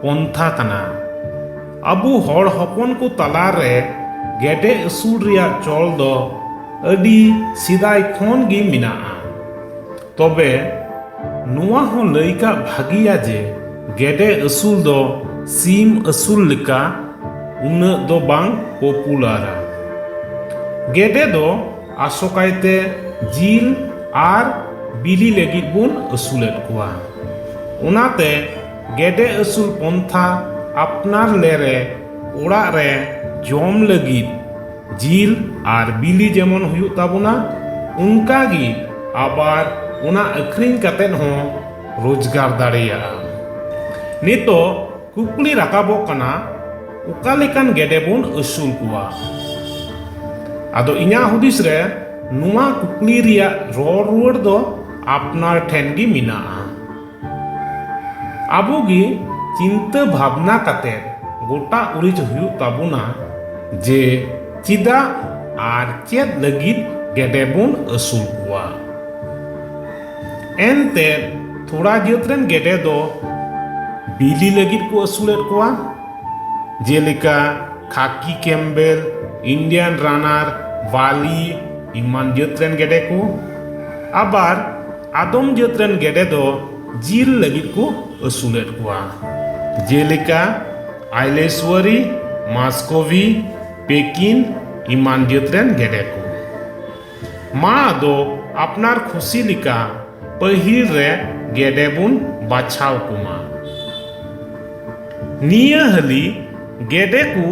ᱯᱚᱱᱛᱷᱟ ᱠᱟᱱᱟ ᱟᱵᱚ ᱦᱚᱲ ᱦᱚᱯᱚᱱ ᱠᱚ ᱛᱟᱞᱟ ᱨᱮ ᱜᱮᱰᱮ ᱟᱹᱥᱩᱞ ᱨᱮᱭᱟᱜ ᱪᱚᱞ ᱫᱚ ᱟᱹᱰᱤ ᱥᱮᱫᱟᱭ ᱠᱷᱚᱱ ᱜᱮ ᱢᱮᱱᱟᱜᱼᱟ ᱛᱚᱵᱮ ᱱᱚᱣᱟ ᱦᱚᱸ ᱞᱟᱹᱭ ᱠᱟᱜ ᱵᱷᱟᱹᱜᱤᱭᱟ ᱡᱮ ᱜᱮᱰᱮ ᱟᱹᱥᱩᱞ ᱫᱚ ᱥᱤᱢ ᱟᱹᱥᱩᱞ ᱞᱮᱠᱟ ᱩᱱᱟᱹᱜ ᱫᱚ ᱵᱟᱝ ᱯᱚᱯᱩᱞᱟᱨᱟ ᱜᱮᱰᱮ ᱫᱚ ᱟᱥᱚᱠᱟᱭᱛᱮ ᱡᱤᱞ ᱟᱨ ᱵᱤᱞᱤ ᱞᱟᱹᱜᱤᱫ ᱵᱚᱱ ᱟᱹᱥᱩᱞᱮᱫ ᱠᱚᱣᱟ ᱚᱱᱟᱛᱮ ᱜᱮᱰᱮ ᱟᱹᱥᱩᱞ ᱯᱚᱱᱛᱷᱟ ᱟᱯᱱᱟᱨ ᱞᱮᱨᱮ ᱚᱲᱟᱜ ᱨᱮ ᱡᱚᱢ ᱞᱟᱹᱜᱤᱫ ᱡᱤᱞ ᱟᱨ ᱵᱤᱞᱤ ᱡᱮᱢᱚᱱ ᱦᱩᱭᱩᱜ ᱛᱟᱵᱚᱱᱟ ᱚᱱᱠᱟ ᱜᱮ ᱟᱵᱟᱨ ᱚᱱᱟ ᱟᱹᱠᱷᱨᱤᱧ ᱠᱟᱛᱮ ᱦᱚᱸ ᱨᱳᱡᱽᱜᱟᱨ ᱫᱟᱲᱮᱭᱟᱜᱼᱟ ᱱᱤᱛᱚᱜ ᱠᱩᱠᱞᱤ ᱨᱟᱠᱟᱵᱚᱜ ᱠᱟᱱᱟ ᱚᱠᱟ ᱞᱮᱠᱟᱱ ᱜᱮᱰᱮ ᱵᱚᱱ ᱟᱹᱥᱩᱞ ᱠᱚᱣᱟ ᱟᱫᱚ ᱤᱧᱟᱹᱜ ᱦᱩᱫᱤᱥ ᱨᱮ ᱱᱚᱣᱟ ᱠᱩᱠᱞᱤ ᱨᱮᱭᱟᱜ ᱨᱚᱲ ᱨᱩᱣᱟᱹᱲ ᱫᱚ ᱟᱯᱱᱟᱨ ᱴᱷᱮᱱ ᱜᱮ ᱢᱮᱱᱟᱜᱼᱟ ᱟᱵᱚ ᱜᱮ ᱪᱤᱱᱛᱟᱹ ᱵᱷᱟᱵᱽᱱᱟ ᱠᱟᱛᱮ ᱜᱚᱴᱟ ᱩᱨᱤᱡ ᱦᱩᱭᱩᱜ ᱛᱟᱵᱚᱱᱟ ᱡᱮ ᱪᱮᱫᱟᱜ ᱟᱨ ᱪᱮᱫ ᱞᱟᱹᱜᱤᱫ ᱜᱮᱰᱮ ᱵᱚᱱ ᱟᱹᱥᱩᱞ ᱠᱚᱣᱟ ᱮᱱᱛᱮ ᱛᱷᱚᱲᱟ ᱡᱟᱹᱛ ᱨᱮᱱ ᱜᱮᱰᱮ ᱫᱚ ᱵᱤᱞᱤ ᱞᱟᱹᱜᱤᱫ ᱠᱚ ᱟᱹᱥᱩᱞᱮᱫ ᱠᱚᱣᱟ ᱡᱮᱞᱮᱠᱟ ᱠᱷᱟᱠᱤ ᱠᱮᱢᱵᱮᱞ ᱤᱱᱰᱤᱭᱟᱱ ᱨᱟᱱᱟᱨ ᱵᱟᱞᱤ ᱮᱢᱟᱱ ᱡᱟᱹᱛ ᱨᱮᱱ ᱜᱮᱰᱮ ᱠᱚ ᱟᱵᱟᱨ ᱟᱫᱚᱢ ᱡᱟᱹᱛ ᱨᱮᱱ ᱜᱮᱰᱮ ᱫᱚ ᱡᱤᱞ ᱞᱟᱹᱜᱤᱫ ᱠᱚ ᱟᱹᱥᱩᱞᱮᱫ ᱠᱚᱣᱟ ᱡᱮᱞᱮᱠᱟ ᱟᱭᱞᱮᱥᱣᱟᱨᱤ ᱢᱟᱥᱠᱚᱵᱷᱤ ᱯᱮᱠᱤᱱ ᱮᱢᱟᱱ ᱡᱟᱹᱛ ᱨᱮᱱ ᱜᱮᱰᱮ ᱠᱚ ᱢᱟ ᱟᱫᱚ ᱟᱯᱱᱟᱨ ᱠᱷᱩᱥᱤ ᱞᱮᱠᱟ ᱯᱟᱹᱦᱤᱞ ᱨᱮ ᱜᱮᱰᱮ ᱵᱚᱱ ᱵᱟᱪᱷᱟᱣ ᱠᱚᱢᱟ ᱱᱤᱭᱟᱹ ᱦᱟᱹᱞᱤ ᱜᱮᱰᱮ ᱠᱚ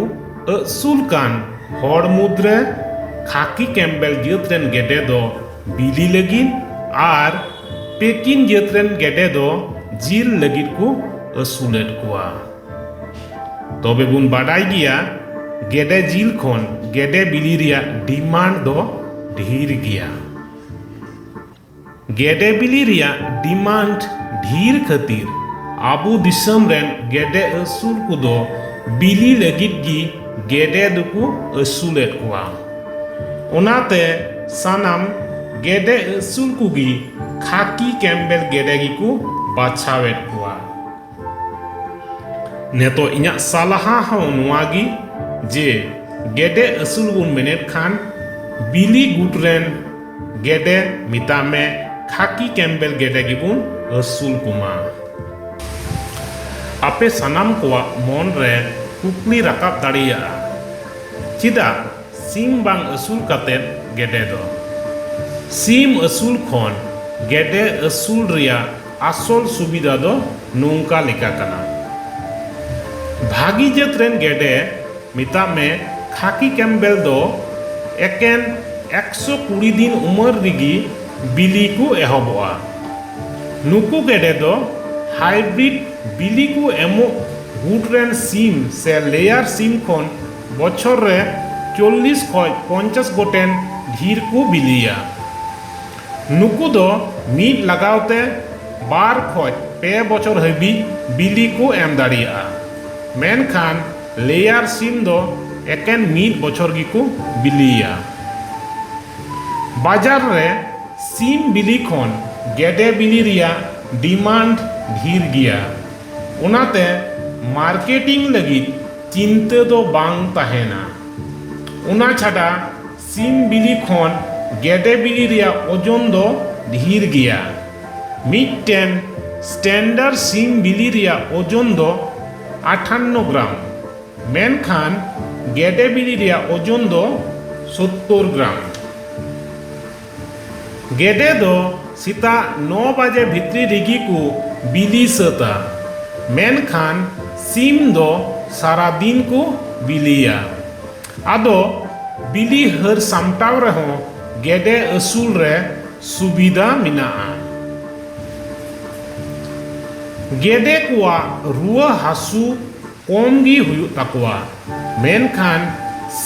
ᱟᱹᱥᱩᱞ ᱠᱟᱱ ᱦᱚᱲ ᱢᱩᱫᱽᱨᱮ ᱠᱷᱟᱠᱤ ᱠᱮᱢᱵᱮᱞ ᱡᱟᱹᱛ ᱨᱮᱱ ᱜᱮᱰᱮ ᱫᱚ ᱵᱤᱞᱤ ᱞᱟᱹᱜᱤᱫ ᱟᱨ ᱯᱮᱠᱤᱱ ᱡᱟᱹᱛ ᱨᱮᱱ ᱜᱮᱰᱮ ᱫᱚ ᱡᱤᱞ ᱞᱟᱹᱜᱤᱫ ᱠᱚ ᱟᱹᱥᱩᱞᱮᱫ ᱠᱚᱣᱟ ᱛᱚᱵᱮ ᱵᱚᱱ ᱵᱟᱰᱟᱭ ᱜᱮᱭᱟ ᱜᱮᱰᱮ ᱡᱤᱞ ᱠᱷᱚᱱ ᱜᱮᱰᱮ ᱵᱤᱞᱤ ᱨᱮᱭᱟᱜ ᱰᱤᱢᱟᱱᱰ ᱫᱚ ᱰᱷᱮᱨ ᱜᱮᱭᱟ ᱜᱮᱰᱮ ᱵᱤᱞᱤ ᱨᱮᱭᱟᱜ ᱰᱤᱢᱟᱱᱰ ᱰᱷᱮᱨ ᱠᱷᱟᱹᱛᱤᱨ ᱟᱵᱚ ᱫᱤᱥᱚᱢ ᱨᱮᱱ ᱜᱮᱰᱮ ᱟᱹᱥᱩᱞ ᱠᱚᱫᱚ ᱵᱤᱞᱤ ᱞᱟᱹᱜᱤᱫ ᱜᱮ ᱜᱮᱰᱮ ᱫᱚᱠᱚ ᱟᱹᱥᱩᱞᱮᱫ ᱠᱚᱣᱟ ᱚᱱᱟᱛᱮ ᱥᱟᱱᱟᱢ ᱜᱮᱰᱮ ᱟᱹᱥᱩᱞ ᱠᱚᱜᱮ ᱠᱷᱟᱹᱠᱤ ᱠᱮᱢᱵᱮᱞ ᱜᱮᱰᱮ ᱜᱮᱠᱚ ᱵᱟᱪᱷᱟᱣᱮᱫ ᱠᱚᱣᱟ ᱱᱤᱛᱚᱜ ᱤᱧᱟᱹᱜ ᱥᱟᱞᱦᱟ ᱦᱚᱸ ᱱᱚᱣᱟ ᱜᱮ ᱡᱮ ᱜᱮᱰᱮ ᱟᱹᱥᱩᱞ ᱵᱚᱱ ᱢᱮᱱᱮᱫ ᱠᱷᱟᱱ ᱵᱤᱞᱤ ᱜᱩᱴ ᱨᱮᱱ ᱜᱮᱰᱮ ᱢᱮᱛᱟᱜ ᱢᱮ ᱠᱷᱟᱹᱠᱤ ᱠᱮᱢᱵᱮᱞ ᱜᱮᱰᱮ ᱜᱮᱵᱚᱱ ᱟᱹᱥᱩᱞ ᱠᱚᱢᱟ ᱟᱯᱮ ᱥᱟᱱᱟᱢ ᱠᱚᱣᱟᱜ ᱢᱚᱱ ᱨᱮ ᱠᱩᱠᱞᱤ ᱨᱟᱠᱟᱵ ᱫᱟᱲᱮᱭᱟᱜᱼᱟ ᱪᱮᱫᱟᱜ ᱥᱤᱢ ᱵᱟᱝ ᱟᱹᱥᱩᱞ ᱠᱟᱛᱮ ᱜᱮᱰᱮ ᱫᱚ? ᱥᱤᱢ ᱟᱹᱥᱩᱞ ᱠᱷᱚᱱ ᱜᱮᱰᱮ ᱟᱹᱥᱩᱞ ᱨᱮᱭᱟᱜ ᱟᱥᱚᱞ ᱥᱩᱵᱤᱫᱷᱟ ᱫᱚ ᱱᱚᱝᱠᱟ ᱞᱮᱠᱟ ᱠᱟᱱᱟ᱾ ᱵᱷᱟᱹᱜᱤ ᱡᱟᱹᱛ ᱨᱮᱱ ᱜᱮᱰᱮ, ᱢᱮᱛᱟᱜ ᱢᱮ ᱠᱷᱟᱠᱤ ᱠᱮᱢᱵᱮᱞ ᱫᱚ ᱮᱠᱮᱱ ᱮᱠᱥᱚ ᱠᱩᱲᱤ ᱫᱤᱱ ᱩᱢᱟᱹᱨ ᱨᱮᱜᱮ ᱵᱤᱞᱤ ᱠᱚ ᱮᱦᱚᱵᱚᱜᱼᱟ᱾ ᱱᱩᱠᱩ ᱜᱮᱰᱮ ᱫᱚ ᱦᱟᱭᱵᱨᱤᱰ ᱵᱤᱞᱤ ᱠᱚ ᱮᱢᱚᱜ ᱜᱩᱴ ᱨᱮᱱ ᱥᱤᱢ ᱥᱮ ᱞᱮᱭᱟᱨ ᱥᱤᱢ ᱠᱷᱚᱱ ᱵᱚᱪᱷᱚᱨ ᱨᱮ ᱪᱚᱞᱞᱤᱥ ᱠᱷᱚᱱ ᱯᱚᱧᱪᱟᱥ ᱜᱚᱴᱮᱱ ᱰᱷᱤᱨ ᱠᱚ ᱵᱤᱞᱤᱭᱟ᱾ ᱱᱩᱠᱩ ᱫᱚ ᱢᱤᱫ ᱞᱟᱜᱟᱣ ᱛᱮ ᱵᱟᱨ ᱠᱷᱚᱱ ᱯᱮ ᱵᱚᱪᱷᱚᱨ ᱦᱟᱹᱵᱤᱡ ᱵᱤᱞᱤ ᱠᱚ ᱮᱢ ᱫᱟᱲᱮᱭᱟᱜᱼᱟ, ᱢᱮᱱᱠᱷᱟᱱ ᱞᱮᱭᱟᱨ ᱥᱤᱢ ᱫᱚ ᱮᱠᱮᱱ ᱢᱤᱫ ᱵᱚᱪᱷᱚᱨ ᱜᱮ ᱠᱚ ᱵᱤᱞᱤᱭᱟ᱾ ᱵᱟᱡᱟᱨ ᱨᱮ ᱥᱤᱢ ᱵᱤᱞᱤ ᱠᱷᱚᱱ ᱜᱮᱰᱮ ᱵᱤᱞᱤ ᱨᱮᱭᱟᱜ ᱰᱤᱢᱟᱱᱰ ᱰᱷᱤᱨ ᱜᱮᱭᱟ᱾ ᱚᱱᱟᱛᱮ ᱢᱟᱨᱠᱮᱴᱤᱝ ᱞᱟᱹᱜᱤᱫ ᱪᱤᱱᱛᱟᱹ ᱫᱚ ᱵᱟᱝ ᱛᱟᱦᱮᱸᱱᱟ᱾ ᱚᱱᱟ ᱪᱷᱟᱰᱟ ᱥᱤᱢ ᱵᱤᱞᱤ ᱠᱷᱚᱱ ᱜᱮᱰᱮ ᱵᱤᱞᱤ ᱨᱮᱭᱟᱜ ᱳᱡᱚᱱ ᱫᱚ ᱰᱷᱤᱨ ᱜᱮᱭᱟ᱾ ᱢᱤᱫᱴᱮᱱ ᱥᱴᱮᱱᱰᱟᱨ ᱥᱤᱢ ᱵᱤᱞᱤ ᱨᱮᱭᱟᱜ ᱳᱡᱚᱱ ᱫᱚ ᱟᱴᱷᱟᱱᱱᱚ ᱜᱨᱟᱢ, ᱢᱮᱱᱠᱷᱟᱱ ᱜᱮᱰᱮ ᱵᱤᱞᱤ ᱨᱮᱭᱟᱜ ᱳᱡᱚᱱ ᱫᱚ ᱥᱚᱛᱛᱚᱨ ᱜᱨᱟᱢ᱾ ᱜᱮᱰᱮ ᱫᱚ ᱥᱮᱛᱟᱜ ᱱᱚ ᱵᱟᱡᱮ ᱵᱷᱤᱛᱨᱤ ᱨᱮᱜᱮ ᱠᱚ ᱵᱤᱞᱤ ᱥᱟᱹᱛᱟ ᱢᱮᱱᱠᱷᱟᱱ ᱥᱤᱢ ᱫᱚ ᱥᱟᱨᱟ ᱫᱤᱱ ᱠᱚ ᱵᱤᱞᱤᱭᱟ ᱟᱫᱚ ᱵᱤᱞᱤ ᱦᱟᱹᱨ ᱥᱟᱢᱴᱟᱣ ᱨᱮᱦᱚᱸ ᱜᱮᱰᱮ ᱟᱹᱥᱩᱞ ᱨᱮ ᱥᱩᱵᱤᱫᱷᱟ ᱢᱮᱱᱟᱜᱼᱟ ᱜᱮᱰᱮ ᱠᱚᱣᱟᱜ ᱨᱩᱣᱟᱹ ᱦᱟᱹᱥᱩ ᱠᱚᱢ ᱜᱮ ᱦᱩᱭᱩᱜ ᱛᱟᱠᱚᱣᱟ, ᱢᱮᱱᱠᱷᱟᱱ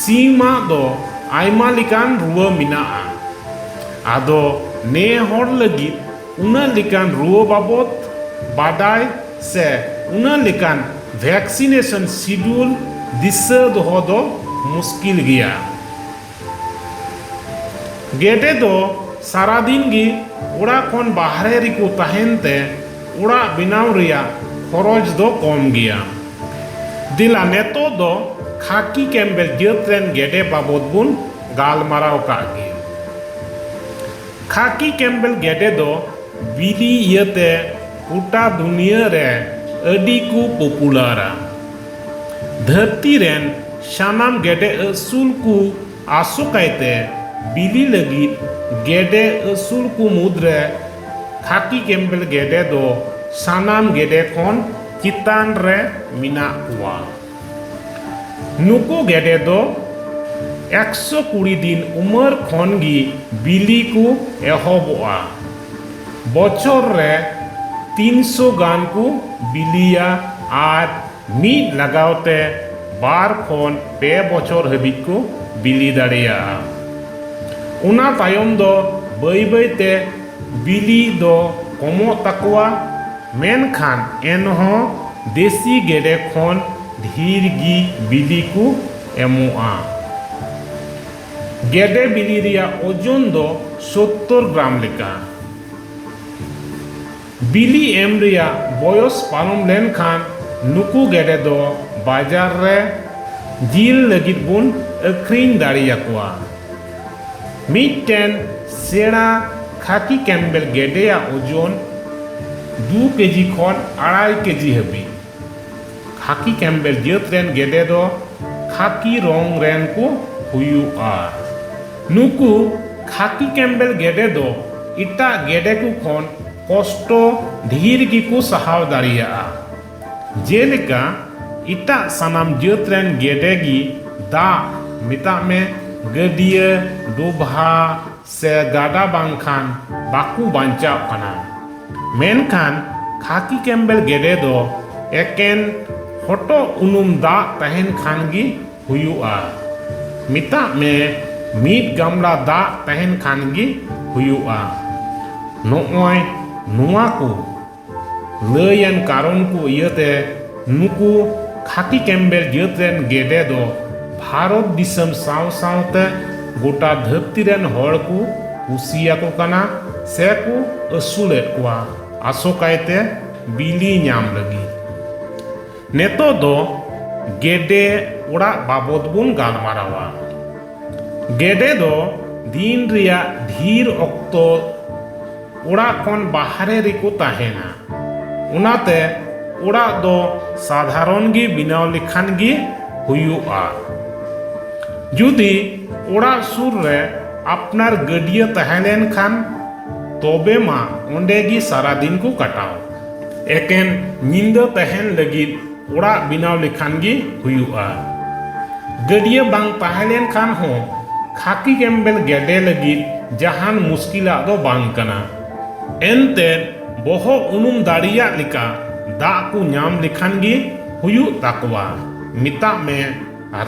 ᱥᱤᱢ ᱟᱜ ᱫᱚ ᱟᱭᱢᱟ ᱞᱮᱠᱟᱱ ᱨᱩᱣᱟᱹ ᱢᱮᱱᱟᱜᱼᱟ᱾ ᱟᱫᱚ ᱱᱮ ᱦᱚᱲ ᱞᱟᱹᱜᱤᱫ ᱩᱱᱟᱹᱜ ᱞᱮᱠᱟᱱ ᱨᱩᱣᱟᱹ ᱵᱟᱵᱚᱛ ᱵᱟᱰᱟᱭ ᱥᱮ ᱩᱱᱟᱹᱜ ᱞᱮᱠᱟᱱ ᱵᱷᱮᱠᱥᱤᱱᱮᱥᱚᱱ ᱥᱤᱰᱩᱞ ᱫᱤᱥᱟᱹ ᱫᱚᱦᱚ ᱫᱚ ᱢᱩᱥᱠᱤᱞ ᱜᱮᱭᱟ᱾ ᱜᱮᱰᱮ ᱫᱚ ᱥᱟᱨᱟᱫᱤᱱ ᱜᱮ ᱚᱲᱟᱜ ᱠᱷᱚᱱ ᱵᱟᱦᱨᱮ ᱨᱮᱠᱚ ᱛᱟᱦᱮᱱ ᱛᱮ ᱚᱲᱟᱜ ᱵᱮᱱᱟᱣ ᱨᱮᱭᱟᱜ ᱠᱷᱚᱨᱚᱪ ᱫᱚ ᱠᱚᱢ ᱜᱮᱭᱟ᱾ ᱫᱮᱞᱟ ᱱᱤᱛᱚᱜ ᱫᱚ ᱠᱷᱟᱠᱤ ᱠᱮᱢᱵᱮᱞ ᱡᱟᱹᱛ ᱨᱮᱱ ᱜᱮᱰᱮ ᱵᱟᱵᱚᱛ ᱵᱚᱱ ᱜᱟᱞᱢᱟᱨᱟᱣ ᱠᱟᱜ ᱜᱮ᱾ ᱠᱷᱟᱠᱤ ᱠᱮᱢᱵᱮᱞ ᱜᱮᱰᱮ ᱫᱚ ᱵᱤᱞᱤ ᱤᱭᱟᱹᱛᱮ ᱜᱚᱴᱟ ᱫᱩᱱᱤᱭᱟᱹ ᱨᱮ ᱟᱹᱰᱤ ᱠᱚ ᱯᱚᱯᱩᱞᱟᱨᱟ᱾ ᱫᱷᱟᱹᱨᱛᱤ ᱨᱮᱱ ᱥᱟᱱᱟᱢ ᱜᱮᱰᱮ ᱟᱹᱥᱩᱞ ᱠᱚ ᱟᱥᱚᱠᱟᱭᱛᱮ ᱵᱤᱞᱤ ᱞᱟᱹᱜᱤᱫ ᱜᱮᱰᱮ ᱟᱹᱥᱩᱞ ᱠᱚ ᱢᱩᱫᱽᱨᱮ ᱠᱷᱟᱠᱤ ᱠᱮᱢᱵᱮᱞ ᱜᱮᱰᱮ ᱫᱚ ᱥᱟᱱᱟᱢ ᱜᱮᱰᱮ ᱠᱷᱚᱱ ᱪᱮᱛᱟᱱ ᱨᱮ ᱢᱮᱱᱟᱜ ᱠᱚᱣᱟ᱾ ᱱᱩᱠᱩ ᱜᱮᱰᱮ ᱫᱚ ᱮᱠᱥᱚ ᱠᱩᱲᱤ ᱫᱤᱱ ᱩᱢᱟᱹᱨ ᱠᱷᱚᱱ ᱜᱮ ᱵᱤᱞᱤ ᱠᱚ ᱮᱦᱚᱵᱚᱜᱼᱟ᱾ ᱵᱚᱪᱷᱚᱨ ᱨᱮ ᱛᱤᱱᱥᱚ ᱜᱟᱱ ᱠᱚ ᱵᱤᱞᱤᱭᱟ ᱟᱨ ᱢᱤᱫ ᱞᱟᱜᱟᱣ ᱛᱮ ᱵᱟᱨ ᱠᱷᱚᱱ ᱯᱮ ᱵᱚᱪᱷᱚᱨ ᱦᱟᱹᱵᱤᱡ ᱠᱚ ᱵᱤᱞᱤ ᱫᱟᱲᱮᱭᱟᱜᱼᱟ᱾ ᱚᱱᱟ ᱛᱟᱭᱚᱢ ᱫᱚ ᱵᱟᱹᱭ ᱵᱟᱹᱭ ᱛᱮ ᱵᱤᱞᱤ ᱫᱚ ᱠᱚᱢᱚᱜ ᱛᱟᱠᱚᱣᱟ, ᱢᱮᱱᱠᱷᱟᱱ ᱮᱱᱦᱚᱸ ᱫᱮᱥᱤ ᱜᱮᱰᱮ ᱠᱷᱚᱱ ᱰᱷᱤᱨ ᱜᱮ ᱵᱤᱞᱤ ᱠᱚ ᱮᱢᱚᱜᱼᱟ᱾ ᱜᱮᱰᱮ ᱵᱤᱞᱤ ᱨᱮᱭᱟᱜ ᱳᱡᱚᱱ ᱫᱚ ᱥᱳᱛᱛᱚᱨ ᱜᱨᱟᱢ ᱞᱮᱠᱟ᱾ ᱵᱤᱞᱤ ᱮᱢ ᱨᱮᱭᱟᱜ ᱵᱚᱭᱚᱥ ᱯᱟᱨᱚᱢ ᱞᱮᱱᱠᱷᱟᱱ ᱱᱩᱠᱩ ᱜᱮᱰᱮ ᱫᱚ ᱵᱟᱡᱟᱨ ᱨᱮ ᱡᱤᱞ ᱞᱟᱹᱜᱤᱫ ᱵᱚᱱ ᱟᱹᱠᱷᱨᱤᱧ ᱫᱟᱲᱮᱭᱟᱠᱚᱣᱟ᱾ ᱢᱤᱫᱴᱮᱱ ᱥᱮᱬᱟ ᱠᱷᱟᱠᱤ ᱠᱮᱢᱵᱮᱞ ᱜᱮᱰᱮᱭᱟᱜ ᱳᱡᱚᱱ ᱫᱩ ᱠᱮᱡᱤ ᱠᱷᱚᱱ ᱟᱲᱟᱭ ᱠᱮᱡᱤ ᱦᱟᱹᱵᱤᱡ᱾ ᱠᱷᱟᱠᱤ ᱠᱮᱢᱵᱮᱞ ᱡᱟᱹᱛ ᱨᱮᱱ ᱜᱮᱰᱮ ᱫᱚ ᱠᱷᱟᱠᱤ ᱨᱚᱝ ᱨᱮᱱ ᱠᱚ ᱦᱩᱭᱩᱜᱼᱟ᱾ ᱱᱩᱠᱩ ᱠᱷᱟᱠᱤ ᱠᱮᱢᱵᱮᱞ ᱜᱮᱰᱮ ᱫᱚ ᱮᱴᱟᱜ ᱜᱮᱰᱮ ᱠᱚ ᱠᱷᱚᱱ ᱠᱚᱥᱴᱚ ᱰᱷᱤᱨ ᱜᱮ ᱠᱚ ᱥᱟᱦᱟᱣ ᱫᱟᱲᱮᱭᱟᱜᱼᱟ᱾ ᱡᱮᱞᱮᱠᱟ ᱮᱴᱟᱜ ᱥᱟᱱᱟᱢ ᱡᱟᱹᱛ ᱨᱮᱱ ᱜᱮᱰᱮ ᱜᱮ ᱫᱟᱜ, ᱢᱮᱛᱟᱜ ᱢᱮ ᱜᱟᱹᱰᱭᱟᱹ, ᱰᱚᱵᱷᱟ, ᱥᱮ ᱜᱟᱰᱟ ᱵᱟᱝᱠᱷᱟᱱ ᱵᱟᱠᱚ ᱵᱟᱧᱪᱟᱜ ᱠᱟᱱᱟ᱾ ᱢᱮᱱᱠᱷᱟᱱ ᱠᱷᱟᱠᱤ ᱠᱮᱢᱵᱮᱞ ᱜᱮᱰᱮ ᱫᱚ ᱮᱠᱮᱱ ᱦᱚᱴᱚᱜ ᱩᱱᱩᱢ ᱫᱟᱜ ᱛᱟᱦᱮᱱ ᱠᱷᱟᱱ ᱜᱮ ᱦᱩᱭᱩᱜᱼᱟ᱾ ᱢᱮᱛᱟᱜ ᱢᱮ ᱢᱤᱫ ᱜᱟᱢᱞᱟ ᱫᱟᱜ ᱛᱟᱦᱮᱱ ᱠᱷᱟᱱ ᱜᱮ ᱦᱩᱭᱩᱜᱼᱟ᱾ ᱱᱚᱜᱼᱚᱭ ᱱᱚᱣᱟ ᱠᱚ᱾ ᱞᱟᱹᱭ ᱟᱱ ᱠᱟᱨᱚᱱ ᱠᱚ ᱤᱭᱟᱹᱛᱮ ᱱᱩᱠᱩ ᱠᱷᱟᱠᱤ ᱠᱮᱢᱵᱮᱞ ᱡᱟᱹᱛ ᱨᱮᱱ ᱜᱮᱰᱮ ᱫᱚ ᱵᱷᱟᱨᱚᱛ ᱫᱤᱥᱚᱢ ᱥᱟᱶ ᱥᱟᱶᱛᱮ ᱜᱚᱴᱟ ᱫᱷᱟᱹᱨᱛᱤ ᱨᱮᱱ ᱦᱚᱲ ᱠᱚ ᱠᱩᱥᱤ ᱟᱠᱚ ᱠᱟᱱᱟ ᱥᱮ ᱠᱚ ᱟᱹᱥᱩᱞᱮᱫ ᱠᱚᱣᱟ ᱟᱥᱚᱠᱟᱭᱛᱮ ᱵᱤᱞᱤ ᱧᱟᱢ ᱞᱟᱹᱜᱤᱫ᱾ ᱱᱤᱛᱚᱜ ᱫᱚ ᱜᱮᱰᱮ ᱚᱲᱟᱜ ᱵᱟᱵᱚᱛ ᱵᱚᱱ ᱜᱟᱞᱢᱟᱨᱟᱣᱟ᱾ ᱜᱮᱰᱮ ᱫᱚ ᱫᱤᱱ ᱨᱮᱭᱟᱜ ᱰᱷᱤᱨ ᱚᱠᱛᱚ᱾ ᱚᱲᱟᱜ ᱠᱷᱚᱱ ᱵᱟᱦᱨᱮ ᱨᱮᱠᱚ ᱛᱟᱦᱮᱱᱟ᱾ ᱚᱱᱟᱛᱮ ᱚᱲᱟᱜ ᱫᱚ ᱥᱟᱫᱷᱟᱨᱚᱱ ᱜᱮ ᱵᱮᱱᱟᱣ ᱞᱮᱠᱷᱟᱱ ᱜᱮ ᱦᱩᱭᱩᱜᱼᱟ᱾ ᱡᱩᱫᱤ ᱚᱲᱟᱜ ᱥᱩᱨ ᱨᱮ ᱟᱯᱱᱟᱨ ᱜᱟᱹᱰᱭᱟᱹ ᱛᱟᱦᱮᱸ ᱞᱮᱱ ᱠᱷᱟᱱ ᱛᱚᱵᱮ ᱢᱟ ᱚᱸᱰᱮ ᱜᱮ ᱥᱟᱨᱟ ᱫᱤᱱ ᱠᱚ ᱠᱟᱴᱟᱣ᱾ ᱮᱠᱮᱱ ᱧᱤᱫᱟᱹ ᱛᱟᱦᱮᱱ ᱞᱟᱹᱜᱤᱫ ᱚᱲᱟᱜ ᱵᱮᱱᱟᱣ ᱞᱮᱠᱷᱟᱱ ᱜᱮ ᱦᱩᱭᱩᱜᱼᱟ᱾ ᱜᱟᱹᱰᱭᱟᱹ ᱵᱟᱝ ᱛᱟᱦᱮᱸ ᱞᱮᱱ ᱠᱷᱟᱱ ᱦᱚᱸ ᱠᱷᱟᱹᱠᱤ ᱜᱮᱢᱵᱮᱞ ᱜᱮᱰᱮ ᱞᱟᱹᱜᱤᱫ ᱡᱟᱦᱟᱱ ᱢᱩᱥᱠᱤᱞᱟᱜ ᱫᱚ ᱵᱟᱝ ᱠᱟᱱᱟ᱾ ᱮᱱᱛᱮᱫ ᱵᱚᱦᱚᱜ ᱩᱱᱩᱢ ᱫᱟᱲᱮᱭᱟᱜ ᱞᱮᱠᱟ ᱫᱟᱜ ᱠᱚ ᱧᱟᱢ ᱞᱮᱠᱷᱟᱱ ᱜᱮ ᱦᱩᱭᱩᱜ ᱛᱟᱠᱚᱣᱟ᱾ ᱢᱮᱛᱟᱜ ᱢᱮ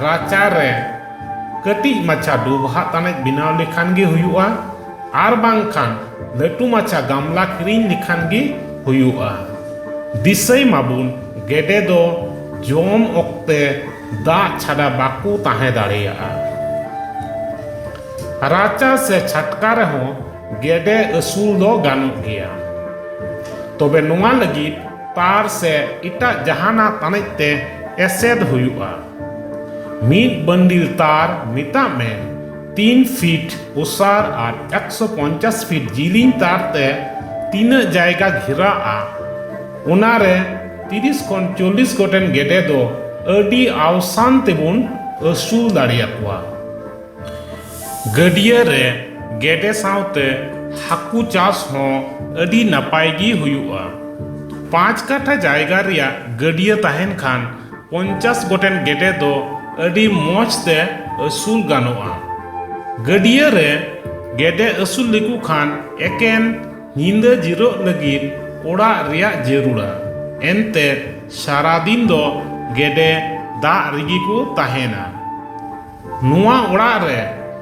ᱨᱟᱪᱟ ᱨᱮ ᱠᱟᱹᱴᱤᱡ ᱢᱟᱪᱷᱟ ᱰᱚᱵᱷᱟ ᱛᱟᱱᱮᱡ ᱵᱮᱱᱟᱣ ᱞᱮᱠᱷᱟᱱ ᱜᱮ ᱦᱩᱭᱩᱜᱼᱟ ᱟᱨ ᱵᱟᱝᱠᱷᱟᱱ ᱞᱟᱹᱴᱩ ᱢᱟᱪᱷᱟ ᱜᱟᱢᱞᱟ ᱠᱤᱨᱤᱧ ᱞᱮᱠᱷᱟᱱ ᱜᱮ ᱦᱩᱭᱩᱜᱼᱟ ᱫᱤᱥᱟᱹᱭ ᱢᱟᱵᱚᱱ ᱜᱮᱰᱮ ᱫᱚ ᱡᱚᱢ ᱚᱠᱛᱮ ᱫᱟᱜ ᱪᱷᱟᱰᱟ ᱵᱟᱠᱚ ᱛᱟᱦᱮᱸ ᱫᱟᱲᱮᱭᱟᱜᱼᱟ ᱨᱟᱪᱟ ᱥᱮ ᱪᱷᱟᱴᱠᱟ ᱨᱮᱦᱚᱸ ᱜᱮᱰᱮ ᱟᱹᱥᱩᱞ ᱫᱚ ᱜᱟᱱᱚᱜ ᱜᱮᱭᱟ᱾ ᱛᱚᱵᱮ ᱱᱚᱣᱟ ᱞᱟᱹᱜᱤᱫ ᱛᱟᱨ ᱥᱮ ᱮᱴᱟᱜ ᱡᱟᱦᱟᱱᱟᱜ ᱛᱟᱱᱮᱡ ᱛᱮ ᱮᱥᱮᱫ ᱦᱩᱭᱩᱜᱼᱟ᱾ ᱢᱤᱫ ᱵᱟᱱᱰᱤᱞ ᱛᱟᱨ, ᱢᱮᱛᱟᱜ ᱢᱮ ᱛᱤᱱ ᱯᱷᱤᱴ ᱚᱥᱟᱨ ᱟᱨ ᱮᱠᱥᱚ ᱯᱚᱧᱪᱟᱥ ᱯᱷᱤᱴ ᱡᱤᱞᱤᱧ ᱛᱟᱨ ᱛᱮ ᱛᱤᱱᱟᱹᱜ ᱡᱟᱭᱜᱟ ᱜᱷᱮᱨᱟᱜᱼᱟ, ᱚᱱᱟ ᱨᱮ ᱛᱤᱨᱤᱥ ᱠᱷᱚᱱ ᱪᱚᱞᱞᱤᱥ ᱜᱚᱴᱮᱱ ᱜᱮᱰᱮ ᱫᱚ ᱟᱹᱰᱤ ᱟᱣᱥᱟᱱ ᱛᱮᱵᱚᱱ ᱟᱹᱥᱩᱞ ᱫᱟᱲᱮᱭᱟᱠᱚᱣᱟ᱾ ᱜᱟᱹᱰᱭᱟᱹ ᱨᱮ ᱜᱮᱰᱮ ᱥᱟᱶᱛᱮ ᱦᱟᱹᱠᱩ ᱪᱟᱥ ᱦᱚᱸ ᱟᱹᱰᱤ ᱱᱟᱯᱟᱭ ᱜᱮ ᱦᱩᱭᱩᱜᱼᱟ ᱯᱟᱸᱪ ᱠᱟᱴᱷᱟ ᱡᱟᱭᱜᱟ ᱨᱮᱭᱟᱜ ᱜᱟᱹᱰᱭᱟᱹ ᱛᱟᱦᱮᱱ ᱠᱷᱟᱱ ᱯᱚᱧᱪᱟᱥ ᱜᱚᱴᱮᱱ ᱜᱮᱰᱮ ᱫᱚ ᱟᱹᱰᱤ ᱢᱚᱡᱽ ᱛᱮ ᱟᱹᱥᱩᱞ ᱜᱟᱱᱚᱜᱼᱟ ᱜᱟᱹᱰᱭᱟᱹ ᱨᱮ ᱜᱮᱰᱮ ᱟᱹᱥᱩᱞ ᱞᱮᱠᱚ ᱠᱷᱟᱱ ᱮᱠᱮᱱ ᱧᱤᱫᱟᱹ ᱡᱤᱨᱟᱹᱜ ᱞᱟᱹᱜᱤᱫ ᱚᱲᱟᱜ ᱨᱮᱭᱟᱜ ᱡᱟᱹᱨᱩᱲᱟ ᱮᱱᱛᱮ ᱥᱟᱨᱟ ᱫᱤᱱ ᱫᱚ ᱜᱮᱰᱮ ᱫᱟᱜ ᱨᱮᱜᱮ ᱠᱚ ᱛᱟᱦᱮᱱᱟ ᱱᱚᱣᱟ ᱚᱲᱟᱜ ᱨᱮ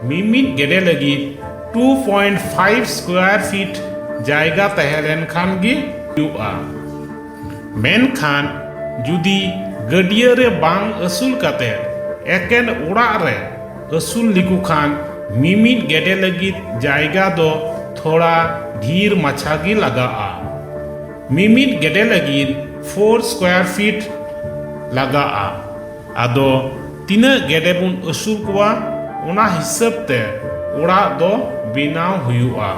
ᱢᱤᱢᱤᱫ ᱜᱮᱰᱮ ᱞᱟᱹᱜᱤᱫ 2.5 ᱥᱠᱚᱭᱟᱨ ᱯᱷᱤᱴ ᱡᱟᱭᱜᱟ ᱛᱟᱦᱮᱸ ᱞᱮᱱᱠᱷᱟᱱ ᱜᱮ ᱦᱩᱭᱩᱜᱼᱟ᱾ ᱢᱮᱱᱠᱷᱟᱱ ᱡᱩᱫᱤ ᱜᱟᱹᱰᱭᱟᱹ ᱨᱮ ᱵᱟᱝ ᱟᱹᱥᱩᱞ ᱠᱟᱛᱮ ᱮᱠᱮᱱ ᱚᱲᱟᱜ ᱨᱮ ᱟᱹᱥᱩᱞ ᱞᱮᱠᱚ ᱠᱷᱟᱱ ᱢᱤᱢᱤᱫ ᱜᱮᱰᱮ ᱞᱟᱹᱜᱤᱫ ᱡᱟᱭᱜᱟ ᱫᱚ ᱛᱷᱚᱲᱟ ᱰᱷᱤᱨ ᱢᱟᱪᱷᱟ ᱜᱮ ᱞᱟᱜᱟᱜᱼᱟ᱾ ᱢᱤᱢᱤᱫ ᱜᱮᱰᱮ ᱞᱟᱹᱜᱤᱫ 4 ᱥᱠᱚᱭᱟᱨ ᱯᱷᱤᱴ ᱞᱟᱜᱟᱜᱼᱟ᱾ ᱟᱫᱚ ᱛᱤᱱᱟᱹᱜ ᱜᱮᱰᱮ ᱵᱚᱱ ᱟᱹᱥᱩᱞ ᱠᱚᱣᱟ ᱚᱱᱟ ᱦᱤᱥᱟᱹᱵ ᱛᱮ ᱚᱲᱟᱜ ᱫᱚ ᱵᱮᱱᱟᱣ ᱦᱩᱭᱩᱜᱼᱟ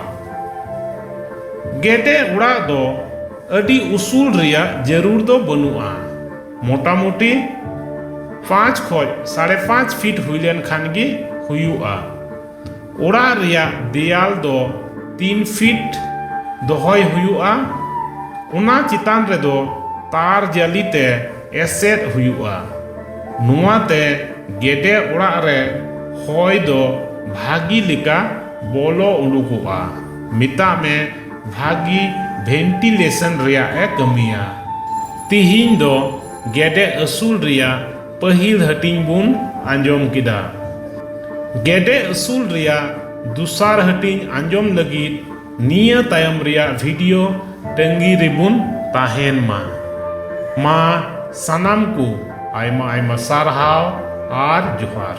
ᱜᱮᱰᱮ ᱚᱲᱟᱜ ᱫᱚ ᱟᱹᱰᱤ ᱩᱥᱩᱞ ᱨᱮᱭᱟᱜ ᱡᱟᱹᱨᱩᱲ ᱫᱚ ᱵᱟᱹᱱᱩᱜᱼᱟ ᱢᱚᱴᱟᱢᱩᱴᱤ ᱯᱟᱸᱪ ᱠᱷᱚᱡ ᱥᱟᱲᱮ ᱯᱟᱸᱪ ᱯᱷᱤᱴ ᱦᱩᱭ ᱞᱮᱱ ᱠᱷᱟᱱ ᱜᱮ ᱦᱩᱭᱩᱜᱼᱟ ᱚᱲᱟᱜ ᱨᱮᱭᱟᱜ ᱫᱮᱭᱟᱞ ᱫᱚ ᱛᱤᱱ ᱯᱷᱤᱴ ᱫᱚᱦᱚᱭ ᱦᱩᱭᱩᱜᱼᱟ ᱚᱱᱟ ᱪᱮᱛᱟᱱ ᱨᱮᱫᱚ ᱛᱟᱨ ᱡᱟᱹᱞᱤ ᱛᱮ ᱮᱥᱮᱫ ᱦᱩᱭᱩᱜᱼᱟ ᱱᱚᱣᱟ ᱛᱮ ᱜᱮᱰᱮ ᱚᱲᱟᱜ ᱨᱮ ᱦᱚᱭ ᱫᱚ ᱵᱷᱟᱹᱜᱤ ᱞᱮᱠᱟ ᱵᱚᱞᱚ ᱩᱰᱩᱠᱚᱜᱼᱟ ᱢᱮᱛᱟᱜ ᱢᱮ ᱵᱷᱟᱹᱜᱤ ᱵᱷᱮᱱᱴᱤᱞᱮᱥᱚᱱ ᱨᱮᱭᱟᱜ ᱮ ᱠᱟᱹᱢᱤᱭᱟ ᱛᱤᱦᱤᱧ ᱫᱚ ᱜᱮᱰᱮ ᱟᱹᱥᱩᱞ ᱨᱮᱭᱟᱜ ᱯᱟᱹᱦᱤᱞ ᱦᱟᱹᱴᱤᱧ ᱵᱚᱱ ᱟᱸᱡᱚᱢ ᱠᱮᱫᱟ ᱜᱮᱰᱮ ᱟᱹᱥᱩᱞ ᱨᱮᱭᱟᱜ ᱫᱚᱥᱟᱨ ᱦᱟᱹᱴᱤᱧ ᱟᱸᱡᱚᱢ ᱞᱟᱹᱜᱤᱫ ᱱᱤᱭᱟᱹ ᱛᱟᱭᱚᱢ ᱨᱮᱭᱟᱜ ᱵᱷᱤᱰᱤᱭᱳ ᱛᱟᱺᱜᱤ ᱨᱮᱵᱚᱱ ᱛᱟᱦᱮᱱ ᱢᱟ ᱢᱟ ᱥᱟᱱᱟᱢ ᱠᱚ ᱟᱭᱢᱟ ᱟᱭᱢᱟ ᱥᱟᱨᱦᱟᱣ ᱟᱨ ᱡᱚᱦᱟᱨ